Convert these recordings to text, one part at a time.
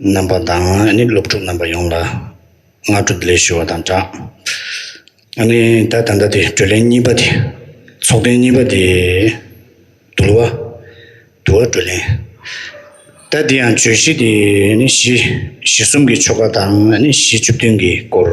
རྣམ་པ་དང་ནི་སློབ་ཕྲུག་རྣམ་པ་ཡོངས་ལ་སྔ་དྲོ་བདེ་ལེགས་ཞུ་བ་དང་སྦྲགས། ནི་ད་ད་ལྟ་དེ་བགྲོ་གླེང་གཉིས་པ་དེ་ཚོགས་ཐེངས་གཉིས་པ་དེ་དུལ་བ་དུལ་བ་བགྲོ་གླེང། ད་དེ་ཡང་བརྗོད་གཞི་དེ་ནི་གཞི་གཞི་གསུམ་གྱི་ཆོ་ག་དང་ནི་གཞི་བཅུ་བདུན་གྱི་སྐོར།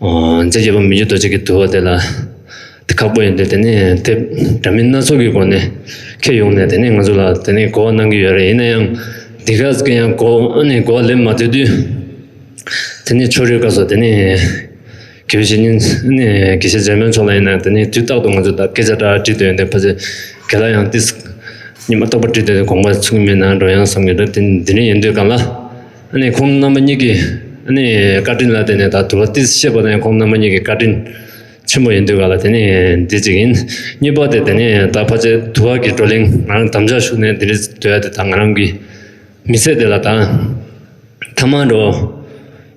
རྫས་བརྒྱད་པོ་མི་འགྱུར་རྡོ་རྗེ་གི་དུ་བ་དེ་ལ་དེ་ཁག་པོ་ཡིན་ཏེ་དེ་ནི་དེ་འདྲ་མིན་སྣ་ཚོགས་ཀྱི་སྒོ་ནས་ཁྱེད་ཡོང་ནས་དེ་ནས་ང་ཚོ་ལ་དེ་ནི་གོ་བ་གནང་གི་ཡོད་རེད་ཡིན་ན་ཡང་འདི་ག་གི་ཡང་གོ་བ་ལེན་མ་འདོད་དུས་དེ་ནི་ཕྱོགས་རིས་དགའ་བསོ་དེ་ནི་དགེ་བཤེས་ཉིན་དགེ་བཤེས་ཛེ་མོན་མཆོག་ལ་ཡིན་ན་དེ་ནི་དུས་རྟག་ཏུ་ང་ཚོ་ལ་སྐད་ཆ་འདྲ་དྲིས་འདོད་ཡོད་ཕ་ཚེ་དགེ་ལ་ཡང་ཏིས་ཉི་མ་རྟོགས་པ་དྲིས་འདོད་དེ་དགོངས་པ་ཚུགས་ཀྱི་མེད་ན་འགྲོ་ཡང་བསམ་གྱི་འདུག་འདི་རིང་ཡིན་དུས་གང་ལ། ཁོང་རྣམ་པ་གཉིས་ཀྱི་བཀའ་དྲིན་ལ་བརྟེན་ནས་ད་དུ་བ་ཏི་ཤེས་པ་ནི་ཁོང་རྣམ་པ་གཉིས་ཀྱི་བཀའ་དྲིན་ཆེན་པོ་ཡིན་འདུག་ག་ལ་དེ་ནི་དེ་གཅིག་ཡིན། གཉིས་པ་དེ་དེ་ནི་ད་ཕ་ཆེ་དུ་བ་གི་བགྲོ་གླེང་ང་རང་དམ་བཅའ་ཞུགས་ནས་དེ་རིང་དུ་ཡ་དེ་ད་ང་རང་གི་མི་ཚེ་དེ་ལ་ད་ཐ་མ་འགྲོ་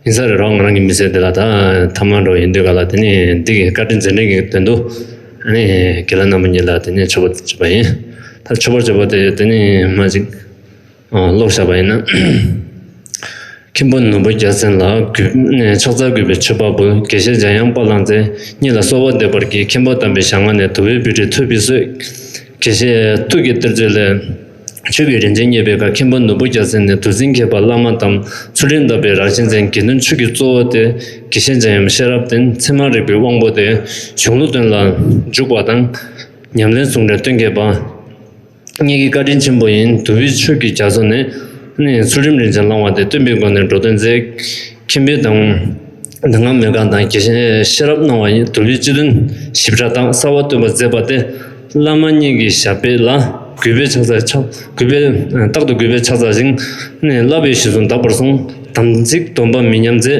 ཡིན་ས་རེད་རོགས་ང་རང་གི་མི་ཚེ་དེ་ལ་ད་ཐ་མ་འགྲོ་ཡིན་འདུག་ག་ལ་དེ་ནི་འདི་གི་བཀའ་དྲིན་རྗེས་དྲན་གི་དོན་དུ་དགེ་ལ་རྣམ་པ་གཉིས་ལ་དེ་ནི་མཆོད་པ་བྱས་པ་ཡིན། ད་མཆོད་པ་བྱས་པ་དེ་དེ་ནི་མ་གཅིག། ཀློག་བཞག་པ་ཡིན་ན། མཁན་པོ་ནོར་བུ་རྒྱལ་མཚན་ལ་ཕྱག་འཚལ་གུས་པའི་མཆོད་པ་འབུལ་དགེ་བཤེས་འཇམ་དབྱངས་པ་ལང་ཚེ་གཉིས་ལ་གསོལ་བ་འདེབས་པར་བགྱི་མཁན་པོ་དམ་པའི་ཞལ་སྔ་ནས་དུ་བའི་བུ་ཁྲི་ཐོད་པའི་གསོས། དགེ་བཤེས་ཐུགས་ཀྱི་གཏེར་མཛོད་ལས། མཆོད་པའི་རིན་ཆེན་རྙེད་པའི་བཀའ་མཁན་པོ་ནོར་བུ་རྒྱལ་མཚན་ནས་དུ་འཛིན་མཁས་པ་བླ་མ་དམ་ཚུལ་རིན་དབང་པའི་རང་བཞིན་ཅན་དགེ་འདུན་ཆོས་ཀྱི་གཙོ་བོ་སྟེ་དགེ་བཤེས་འཇམ་དབྱངས་ཤེས་རབ་བརྟན་མཚན་མ་རིག་པའི་དབང་པོ་སྟེ་གཞུང་ལུགས་དོན་ལ་འཇུག་པ་དང། ཉམས་ལེན་ཟུང་འབྲེལ་སྟོན་མཁས་པ། གཉིས་ཀྱི་བཀའ་དྲིན་ཆེན་པོ་ཡིན་དུ་བའི་ཆོས་ཀྱི་རྒྱ་མཚོ་ནི། ཚུལ་ཁྲིམས་རིན་ཆེན་བླང་བ་དེ་སྟོན་པའི་སྒོ་ནས་འགྲོ་དོན་མཛད། ཁྱིམ་པའི་དང། དེ་སྔ་མོས་གང་དང་ཤེས་རབ་སྣང་བ་ཡིན་དུ་བའི་སྤྱི་དོན་ཞིབ་ཕྲ་དག་གསར་བ་སྟོན་པར་མཛད་པ་སྟེ། བླ་མ་གཉིས་ཀྱི་ཞབས་པད་ལ། གུས་པས་ཕྱག་འཚལ། རྟག་ཏུ་གུས་པས་ཕྱག་འཚལ་ཞིང། བསླབ་པའི་གཞི་བཟུང་དག་པར་བཟུང། དམ་ཚིག་སྡོམ་པ་མི་ཉམས་མཛད།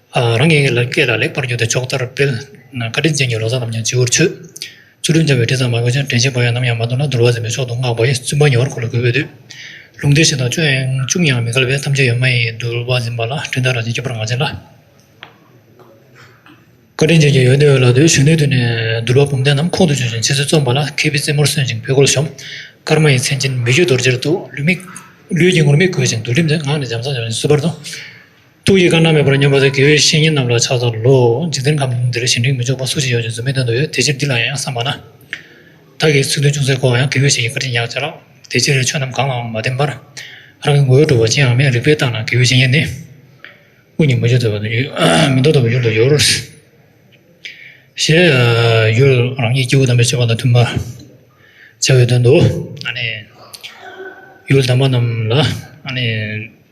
རང་གི་སྐད་ལ་ལེགས་པར་བསྒྱུར་ཏེ་ཕྱོགས་མཐར་སྤེལ། བཀའ་དྲིན་ཅན་གྱི་ལོ་ཙཱ་རྣམས་ཀྱང་སྤྱི་བོར་ཆུད། ཆུ་ཀྲུང་འཆང་བའི་དྲི་བཟང་མ་དགོས་ཅིང་དྲན་ཤིང་བག་ཡངས་ནམ་ཡང་མ་འདོར་ན་དུར་བ་འཛིན་པའི་མཆོག་ཏུ་བསྔགས་པ་ཡི་བཙུན་པ་ཉེ་བར་མཁོ་ལ་གུས་པས་འདུད། ལུང་སྡེ་བཞི་དང་བཅུ་ཡང་ཅུང་ཡང་མི་འགལ་བས་ཐམས་ཅད་ཡོད་མ་ཡིན་དུར་བ་འཛིན་པ་ལ་སྤྲིན་ལྟར་རང་བཞིན་སྐྱེ་བར་ངག་བྱིན་ལ། བཀའ་དྲིན་ཅན་གྱི་ཡོན་ཏན་འོད་ལ་འདུད་གཞོན་ནུའི་དུས་ནས་དུར་བ་བུམ་ལྡན་རྣམས་ཁོང་དུ་ཆུད་ཅིང་ཕྱི་ཚུལ་རྩོམ་པ་ལ་མཁས་པའི་རྩེ་མོར་སོན་ཅིང་བུ་གུར་ཤོམ། སྐར་མ་ཡི་མཚན་ཅན་མི་བཞུད་རྡོ་རྗེར་གཏུག། ལུས་ཀྱི་ངུར་སྨྲིག་གོས་ཅིང་དུར་ཁྲིམས་ལྡན་ངག་ནི་འཇམ་བཟང་ལྗོན་ཤིང་གསོལ་བར་དུ། ཏུ་ཡི་ག་ན་མེད་པར་སྙོམས་པ་དེ་དགེ་བའི་བཤེས་གཉེན་རྣམས་ལ་ཕྱག་དང་ལོ། འཇིག་རྟེན་ཁམས་འདིར་གཞན་དྲིང་མི་འཇོག་པ་སུ་ཞིག་ཡོད་ཅེས་རྫུན་མའི་དོན་དུ་ཡོད་དེ་ཕྱིར་འདི་ལ་ཡང་བསམས་པ་ན། བདག་གིས་ཚུལ་སྟོན་ཅུང་ཟད་གོ་བ་ཡང་དགེ་བའི་བཤེས་ཀྱི་བཀའ་དྲིན་ཉག་ཅིག་ལགས། དེ་ཕྱིར་ཆོས་རྣམས་གང་ལའང་མ་བརྟེན་པར། རང་གི་ངོ་བོས་གྲུབ་པ་ཅི་ཡང་མེད་རིག་པས་བརྟགས་ན་དགེ་བའི་བཤེས་གཉེན་ནི། ཀུན་གྱིས་མི་འཇོག་དོད་པ་དང་མི་འདོར་དོད་པའི་ཡུལ་དུ་གྱུར། ཞེས་ཡུལ་རང་ཉིད་སྐྱེ་བོ་དམ་པའི་སྤྱོད་པ་དང་མཐུན་པར་བྱ་བའི་དོན་དུ། ཡུལ་དམ་པ་རྣམས་ལ།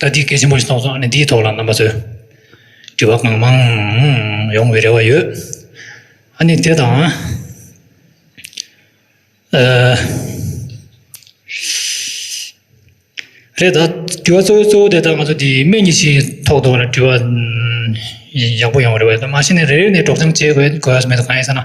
ད་ལྟའི་སྐད་ཆེན་པོ་ཞིག་གསུངས་སོང་ཨ་ནི་འདིའི་ཐོག་ལ་རྣམ་པ་ཚོས་དྲི་བ་གང་མང་ཡོང་བའི་རེ་བ་ཡོད། ཨ་ནི་དེ་དང། རེད་ད་དྲི་བ་གཙོ་བོའི་གཙོ་བོ་དེ་ད་ང་ཚོ་དེ་སྨན་གྱི་ཆེད་ཐོག་ཏུ་དྲི་བ་ཡག་པོ་ཡོང་བའི་རེ་བ་ཡོད། མ་གཞི་ནས་རེ་རེ་ནས་སྒྲོག་སྦྱང་བྱེད་དགོས་དགོས་ཡ་མེད་དོ་གང་ཡིན་ཟེར་ན།